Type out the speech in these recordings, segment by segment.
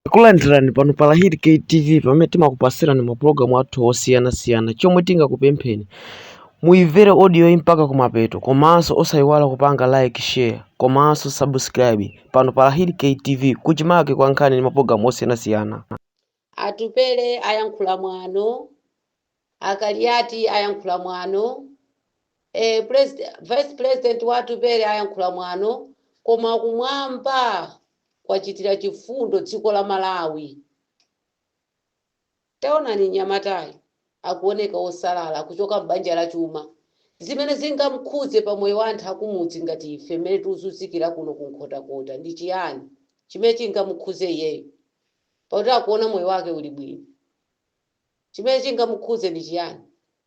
Takulandirani pano pa Lahiri KTV pamene timakupatsirani mapulogalamu athu osiyanasiyana. Chomwe tingakupempheni muimvere audio yi mpaka kumapeto komanso osayiwala kupanga like, share komanso subscribe pano pa Lahiri KTV kuchimake kwa nkhani ndi mapulogalamu osiyanasiyana. Atupele ayankhula mwano A Kaliati ayankhula mwano vice president wa Atupele ayankhula mwano koma kumwamba kwachitira chifundo dziko la Malawi. Taonani mnyamatayu akuoneka osalala kuchoka m'banja la chuma zimene zingamkhudze pa moyo wa anthu akumudzi ngati ife mmene tikuzunzikira kuno ku Nkhotakota ndi chiyani chimene chingamukhudze iyeyo pakuti akuona moyo wake uli bwino. Chimene chingamukhudze ndi chiyani?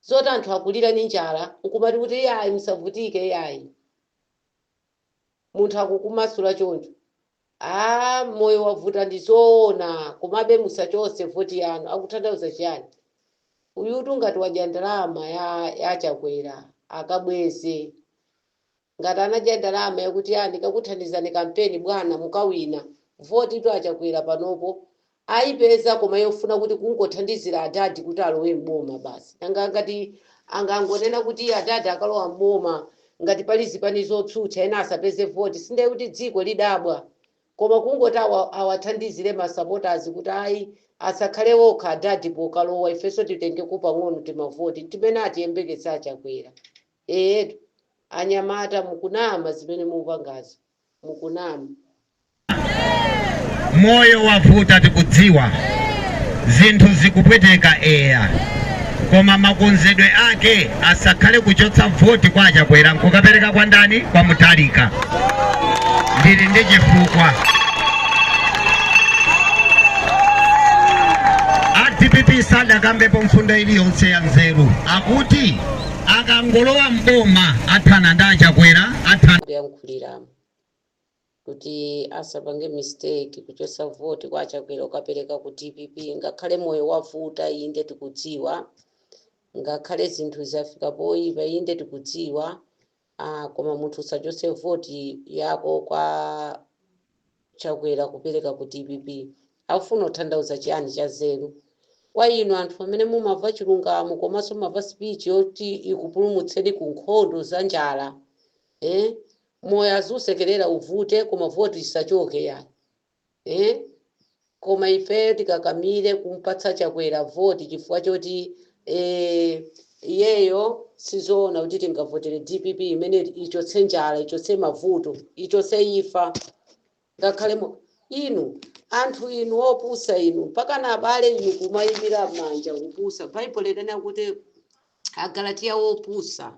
Zoti anthu akulira ndi njala n'kumati kuti iyayi musavutike iyayi. Munthu akukumasula choncho. Aaa moyo wavuta ndi zoona komabe musachotse voti yanu. Akuthandauza chiyani? Uyutu ngati wadya ndalama ya Chakwera akabweze. Ngati anadya ndalama yakuti ayi ndikakuthandizani kampeni bwana mukawina. Votitu a Chakwera panopo ayipeza koma yofuna kuti kungothandizira adadi kuti alowe m'boma basi. Nanga atangonena kuti adadi akalowa m'boma ngati pali zipani zotsutsa ena asapeze voti si ndiye kuti dziko lidzadabwa? Koma kungoti awathandizire ma supporters kuti ayi asakhale okha adadi pokalowa ifenso titengeko pang'ono timavoti n'timene atiyembekeza a Chakwera. Ee anyamata mukunama zimene mukupangazo mukunama. Moyo wavuta tikudziwa, zinthu zikupweteka eya koma makonzedwe ake asakhale kuchotsa voti kwa Achakwera nkukapereka kwa ndani? Kwa Mutharika. Ndili ndi chifukwa. A dpp sadakambepo mfundo iliyonse ya nzeru akuti akangolowa m'boma athana ndi a Chakwera, athana. kuyankhuliramo kuti asapange mistake kuchotsa voti kwa achakwera nkukapereka ku dpp ngakhale moyo wavuta inde tikudziwa ngakhale zinthu zafika poyipa inde tikudziwa koma munthu usachotse vote yako kwa chakwera kupereka ku dpp akufuna kuthandauza chiyani cha nzeru kwa inu anthu amene mumava chilungamo komaso mumava speech yoti ikupulumutseni ku nkhondo za njala eh moyo azisekerera uvute koma vote isachoke yayi Eee koma ifeyo tikakamile kumpatsa chakwera voti chifukwa choti ee iyeyo sizoona kuti tingavotele dpp imene ichotse njala ichotse mavuto ichotse imfa ngakhale mu- inu anthu inu opusa inu mpaka na abale inu kumayimbira manja kupusa baibulo likanena kuti agalatiya wopusa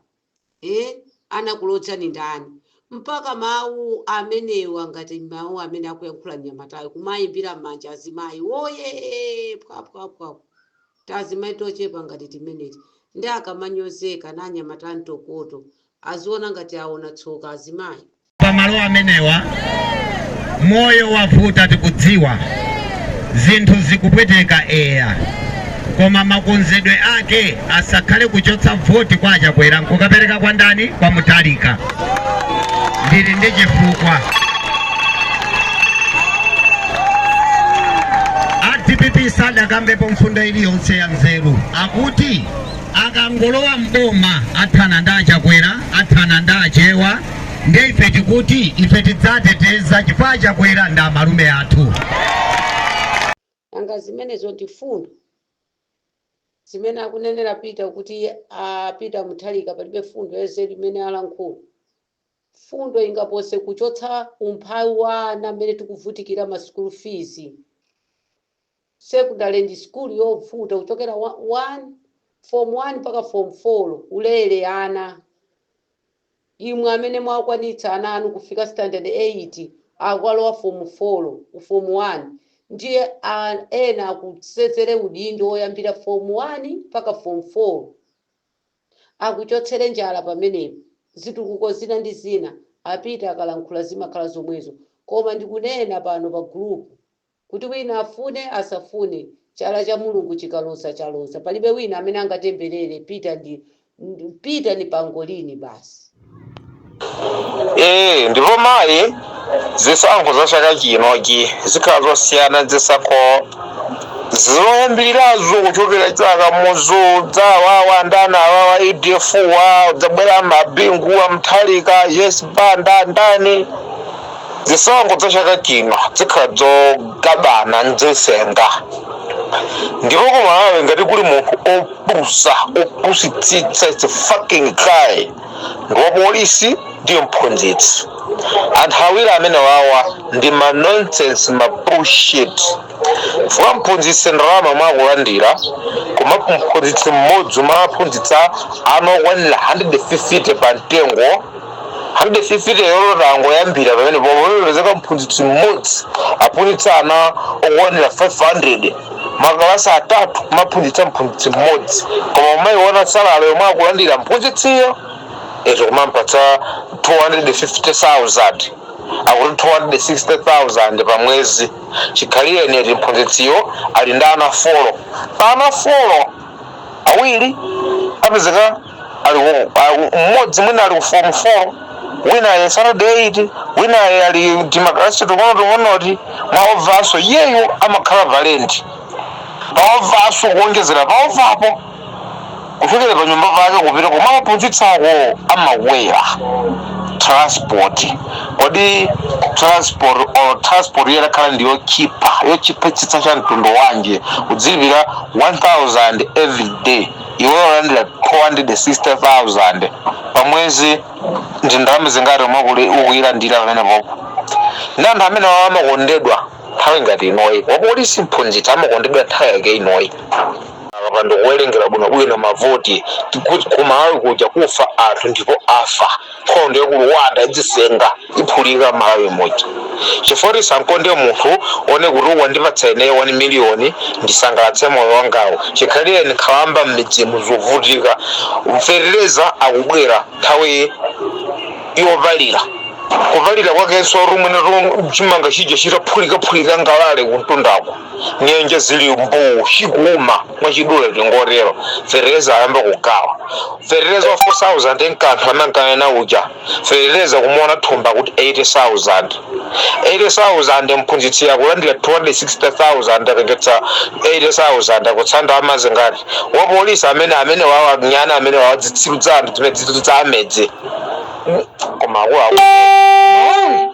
Eh? Anakulodzani ndani? Mpaka mawu amenewa ngati mawu amene akuyankhula mnyamatayo kumayimbira manja azimayi. Woyee! Phwaphwaphwaphu. Tazimai tochepa ngati timeneti. Nde akamanyozeka na anyamata antokoto. Aziona ngati aona tsoka azimayi. pamalo amenewa moyo wavuta tikudziwa zinthu zikupweteka eya koma makonzedwe ake asakhale kuchotsa voti kwa achakwera nkukapereka kwa ndani kwa Mutharika ndili ndi chifukwa a dpp sadakambepo mfundo iliyonse ya nzeru akuti akangolowa m'boma athana ndi achakwera athana ndi achewa ndiye ife tikuti ife tidzateteza chifukwa chakwera ndi amalume athu nanga zimenezo ndi fundo zimene akunenera peter kuti a peter Mutharika palibe fundo yanzeru imene alankhula fundo ingapose kuchotsa umphawi wa ana mmene tikuvutikira ma school fees Secondary ndi sukulu yobvuta kuchokera form 1 mpaka form 4 ulele ana imwe amene mwakwanitsa ana anu kufika standard 8 akukalowa form 4 ku form 1 ndiye ena akusenzere udindo oyambira form 1 mpaka form 4 akuchotsere njala pamenepo zitukuko zina ndi zina a Peter akalankhula zimakhala zomwezo koma ndikunena pano pa group Kuti wina afune, asafune, chala cha Mulungu chikaloza, chaloza. Palibe wina amene angatembelere Peter ndi, ndi, Peter ndi Pangolini basi. Eee ndipo mayi zisankho za chaka chinochi zikhala zosiyana ndi zisankho zoyambirirazo kuchokera chaka muzudza awawa ndani awawa UDF wadzabwera ma Bingu wa Mutharika Joyce Banda ndani Zisankho dza chaka chino dzikhala dzogabana ndzesenga ndipo ku Malawi ngati kuli munthu opusa opusitsitsa it's a fucking guy ndi wapolisi ndi mphunzitsi anthu awiri amenewawa ndi ma nonsense ma bullshit chifukwa mphunzitsi ndalama mwakulandira koma mphunzitsi mmodzi umaphunzitsa ana okwanira 150 pa mtengo 150 lero tangoyambira pamene pomwe pamepezeka mphunzitsi mmodzi aphunzitsa ana okwanira 500 makalasi atatu kumaphunzitsa mphunzitsi mmodzi koma umayiona salale yomwe akulandira mphunzitsiyo izo kumampatsa 250000 akuti 260000 pa mwezi chikhalirenicho eti mphunzitsiyo ali ndi ana folo pa ana folo awiri apezeka ali ku- a- mmodzi mwina ali ku form 4 wina ali standard 8 wina ali- ali timakalasi tung'ono tung'onoti maovaso iyeyo amakhala pa lenti paovaso kuonjezera paovapo kuchokera pa nyumba pake kupita kumawaphunzitsako amakwera transport kodi transport or transport yakhala ndi yochipa yochipitsitsa cha mtundu wanji kudzilipira 1000 every day iwe ulandira 260,000 pa mwezi ndi ndalama zingati yomwe ukuyilandira pamene popo ndi anthu amene wawo amakondedwa nthawi ngati inoyi wapolisi mphunzitsi amakondedwa nthawi yake inoyi akapanda kuwerengera bwinobwino mavoti kuti kumalawi kudzafa anthu ndipo afa nkhondo yaku rwanda idzisenga iphulika malawi muja chifukwa kuti usakonde munthu one kuti wandipatsa ineyo 1 miliyoni ndisangalatse moyo wangawo chikhalireni nkhalamba mmidzimu zikuvutika fetereza akubwera nthawi yovalira kuvalira kwakenso lomwe chimanga chija chitaphulikaphulika ngalale kumundako nyenje zili mbuu chikuuma mwachidule tingotero fetereza ayamba kugawa fetereza wa 4000 n'kuti anthu ankakana uja fetereza kumuona thumba kuti 80000 80000 mphunzitsi akulandira 260000 atengetsa 80000 akutsala ndi zingati wapolisi amene amene wawanyana amene wawadzitsiru dzanthu zimene dzithu dza amedzi koma akuluakulu